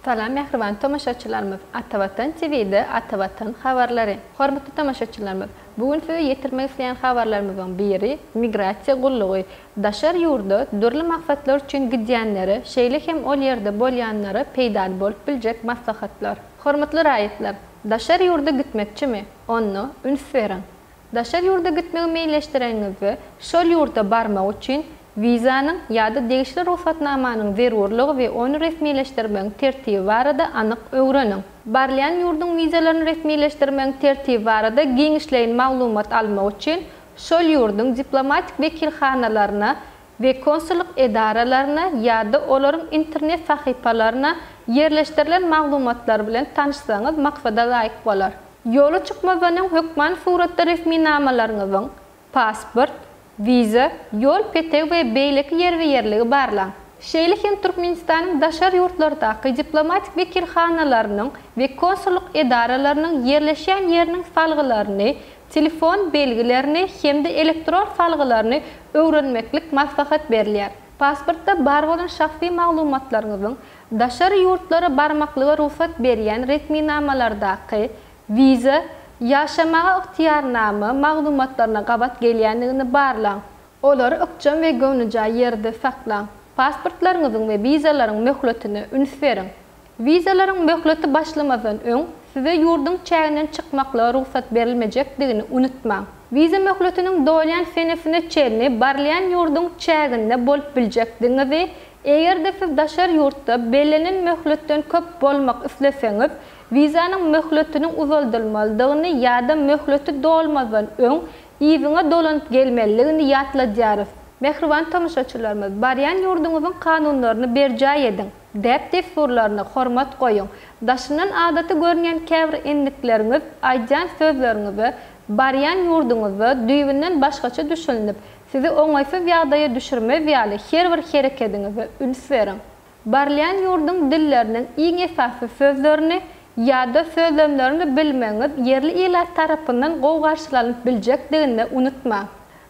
Salam mähriban tomaşaçylarymyz! Atavatan TV-de Atavatan habarlary. Hormatly tomaşaçylarymyz, bu gün size ýetirmek isleýän habarlarymyzyň biri migrasiýa gullugy daşary ýurda dürli maksatlar üçin gidýänlere, şeýle hem ol ýerde bolýanlara peýdaly bolup biljek maslahatlar. Hormatly raýatlar, daşary ýurda gitmekçimi? Onda üns beriň! Daşary ýurda gitmegi meýilleşdireniňizde, şol ýurda barmak üçin wizanyň ýa-da degişli rugsatnamanyň zerurlygy we ony resmileşdirmegiň tertibi barada anyk öwreniň. Barylýan ýurduň wizalaryny resmileşdirmegiň tertibi barada giňişleýin maglumat almak üçin, şol ýurduň diplomatik wekilhanalaryna we konsullyk edaralaryna ýa-da olaryň internet sahypalaryna ýerleşdirilen maglumatlar bilen tanyşsaňyz maksada laýyk bolar. Ýola çykmazdan öň hökman suratda resminamalaryňyzyň, pasport, wiza, ýol petegi we beýleki ýerbe-ýerligi barlaň. Şeýle hem Türkmenistanyň daşary ýurtlardaky diplomatik wekilhanalarynyň we konsullyk edaralarynyň ýerleşýän ýeriniň salgylaryny telefon belgilerini hem-de elektron salgylaryny öwrenmeklik maslahat berilýär. Pasportda bar bolan şahsy maglumatlaryňyzyň daşary ýurtlara barmaklyga rugsat berýän resminamalardaky, wiza, ýaşamaga ygtyýarnama, maglumatlaryna gabat gelýändigini barlaň. Olary ykjam we göwnejaý ýerde saklaň. Pasportlaryňyzyň we wizalaryň möhletine üns beriň. Wizalaryň möhleti başlamazdan öň size ýurduň çäginden çykmaklyga rugsat berilmejekdigini unutmaň. Wiza möhletiniň dolýan senesine çenli barylýan ýurduň çäginde bolup biljekdigiňizi, eger-de siz daşary ýurtda bellenen möhletden köp bolmak isleseňiz, wizanyň möhletiniň uzaldylmalydygyny ýa-da möhleti dolmazdan öň yzyňa dolanyp gelmelidigini ýatladýarys. Mähriban tomaşaçylarymyz, barýan ýurduňyzyň kanunlaryny berjaý ediň! Däp-dessurlaryna hormat goýuň. Daşyndan adaty görünýän käbir endikleriňiz aýdýan sözleriňize, barýan ýurduňyzda düýbünden başgaça düşünilip, sizi oňaýsyz ýagdaýa düşürmez ýaly her bir herekediňize üns beriň. Barylýan ýurduň dilleriniň iň esasy sözlerini ýa-da sözlemlerini bilmegiňiz ýerli ilat tarapyndan gowy garşylanyp biljekdigini-de unutmaň.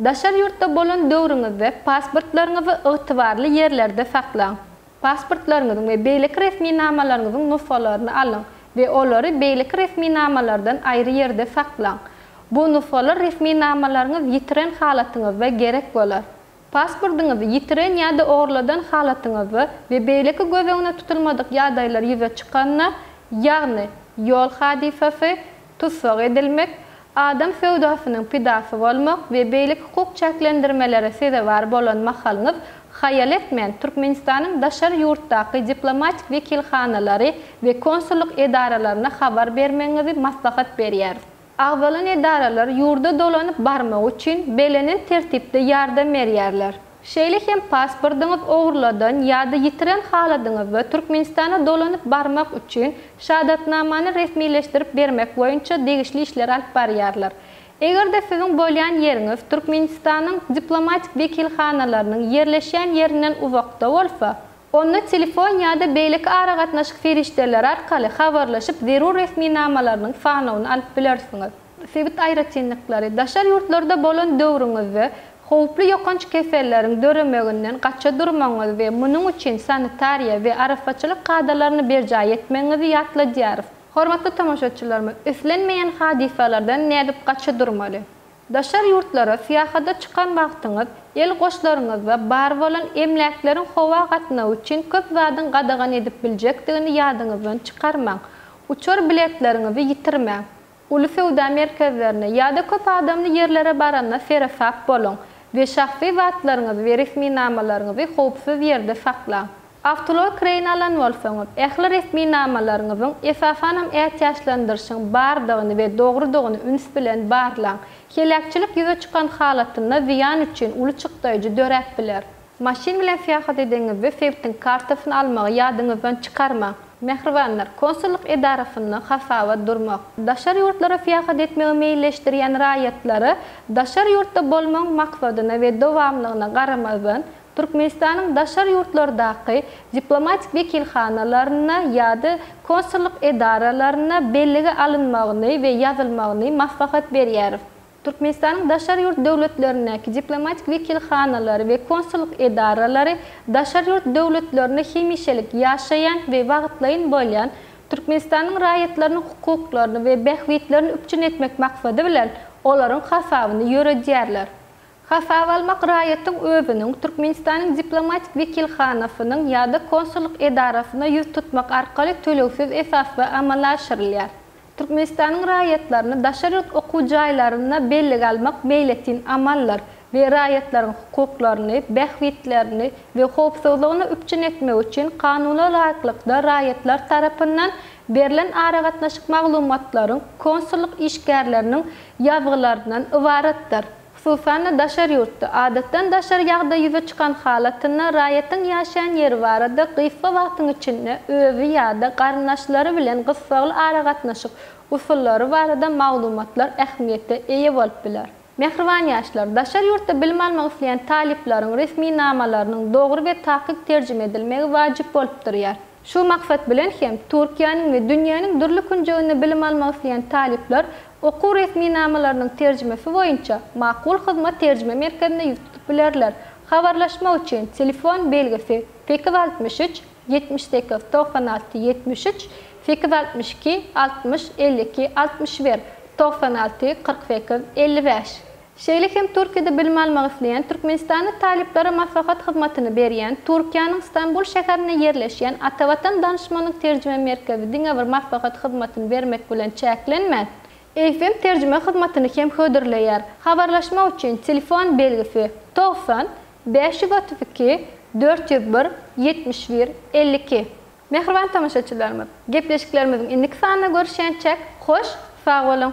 Daşary ýurtda bolan döwrüňizde pasportlaryňyzy ygtybarly ýerlerde saklaň. Pasportlaryňyzyň we beýleki resminamalaryňyzyň nusgalaryny alyň we olary beýleki resminamalardan aýry ýerde saklaň. Bu nusgalar resminamalaryňyz ýitiren halatyňyzda gerek bolar. Pasportyňyzy ýitiren ýa-da ogurladan halatyňyzda we beýleki göz öňüne tutulmadyk ýagdaýlar ýüze çykanda, ýagny ýol hadysasy, tussag edilmek, adam söwdasynyň pidasy bolmak we beýleki hukuk çäklendirmelere sezewar bolan mahalyňyz, haýal etmän, Türkmenistanyň daşary ýurtdaky diplomatik wekilhanalary we konsullyk edaralaryna habar bermegiňizi maslahat berýäris. Agzalan edaralar ýurda dolanyp barmagy üçin belenen tertipde ýardam berýärler. Şeýle hem pasportyňyz ogurladan ýa-da ýitiren haladyňyzda Türkmenistana dolanyp barmak üçin şahadatnamany resmileşdirip bermek boýunça degişli işleri alyp barýarlar. Eger-de siziň bolýan ýeriňiz Türkmenistanyň diplomatik wekilhanalarynyň ýerleşýän ýerinden uzakda bolsa, Onda telefon ýa-da beýleki aragatnaşyk serişdeleri arkaly habarlaşyp, zerur resminamalarynyň sanawyny alyp bilersiňiz. Sebit aýratynlyklary. Daşary ýurtlarda bolan döwrüňizde howply ýokanç keselleriň döremeginden gaça durmagyňyzy we munuň üçin sanitariýa we arassaçylyk kadalaryny berjaý etmegiňizi ýatladýarys. Hormatly tomaşaçylarymyz, islenmeýän hadysalardan nädip gaça durmaly? Daşary ýurtlara syýahada çykan wagtyňyz el goşlaryňyzda bar bolan emläkleriň howa gatnagy üçin köp zadyň gadagan edip biljekdigini ýadyňyzdan çykarmaň. Uçar biletleriňizi ýitirmäň. Uly söwda merkezlerine ýa-da köp adamly ýerlere baranda seresap boluň we şahsy zatlaryňyzy we resminamalaryňyzy howpsuz ýerde saklaň. Awtoulag kireýine alan bolsaňyz, ähli resmi namalaryňyzyň, esasanam ätiýaçlandyryşyň bardygyny we dogrudygyny üns bilen barlaň. Heläkçilik ýüze çykan halatynda zyýan üçin uly çykdaýjy döräp biler. Maşyn bilen syýahat edenňizde sebitiň kartasyny almagy ýadyňyzdan çykarmaň. Mähribanlar, konsullyk edarasynda hasaba durmak. Daşary ýurtlara syýahat etmegi meýilleşdirýän raýatlary daşary ýurtda bolmagyň maksadyna we dowamlygyna garamazdan, Türkmenistanyň daşary ýurtlardaky diplomatik wekilhanalaryna ýa-da konsullyk edaralaryna bellige alynmagyny we ýazylmagyny maslahat berýäris. Türkmenistanyň daşary ýurt döwletlerindäki diplomatik wekilhanalary we konsullyk edaralary daşary ýurt döwletlerinde hemişelik ýaşaýan we wagtlaýyn bolýan Türkmenistanyň raýatlarynyň hukuklaryny we bähbitlerini üpjün etmek maksady bilen olaryň hasabyny ýöredýärler. Hasaba almak raýatyň özüniň Türkmenistanyň diplomatik wekilhanasynyň ýa-da konsullyk edarasyna ýüz tutmak arkaly tölegsiz esasda amala aşyrylýar. Türkmenistanyň raýatlaryny daşary ýurt okuw jaýlarynda bellige almak meýletin amaldyr we raýatlaryň hukuklaryny, bähbitlerini we howpsuzlygyny üpjün etmek üçin kanuna laýyklykda raýatlar tarapyndan berlen aragatnaşyk maglumatlaryň konsullyk işgärleriniň ýazgylaryndan ybaratdyr. Hususan-da, daşary ýurtda, adatdan daşary ýagdaý ýüze çykan halatynda raýatyň ýaşaýan ýeri barada gysga wagtyň içinde özi ýa-da garyndaşlary bilen gyssagly aragatnaşyk usullary barada maglumatlar ähmiýete eýe bolup biler. Mähriban ýaşlar, daşary ýurtda bilim almak isleýän talyplaryň resminamalarynyň dogry we takyk terjime edilmegi wajyp bolup durýar. Şu maksat bilen hem Türkiýäniň we dünýäniň dürli künjeginde bilim almak isleýän talyplar okuw resminamalarynyň terjimesi boýunça Makul hyzmat terjime merkezine ýüz tutup bilerler. Habarlaşmak üçin telefon belgisi sekiz altmyş üç, ýetmiş sekiz, togsan alty, ýetmiş üç, sekiz altmyş iki, altmyş, elli iki, altmyş bir, togsan alty, kyrk sekiz, elli bäş. Şeýle hem Türkiýede bilim almak isleýän türkmenistanly talyplara maslahat hyzmatyny berýän Türkiýäniň Stambul şäherinde ýerleşýän Atavatan Danyşmanlyk Terjime Merkezi diňe bir maslahat hyzmatyny bermek bilen çäklenmän, FM terjime hyzmatyny hem hödürleýär. Habarlaşmak üçin telefon belgisi, togsan, bäş ýüz otuz iki, dört ýüz bir, ýetmiş bir, elli iki. Mähriban tomaşaçylarymyz, gepleşiklerimiziň indiki sanynda görüşýänçäk, hoş, sag boluň!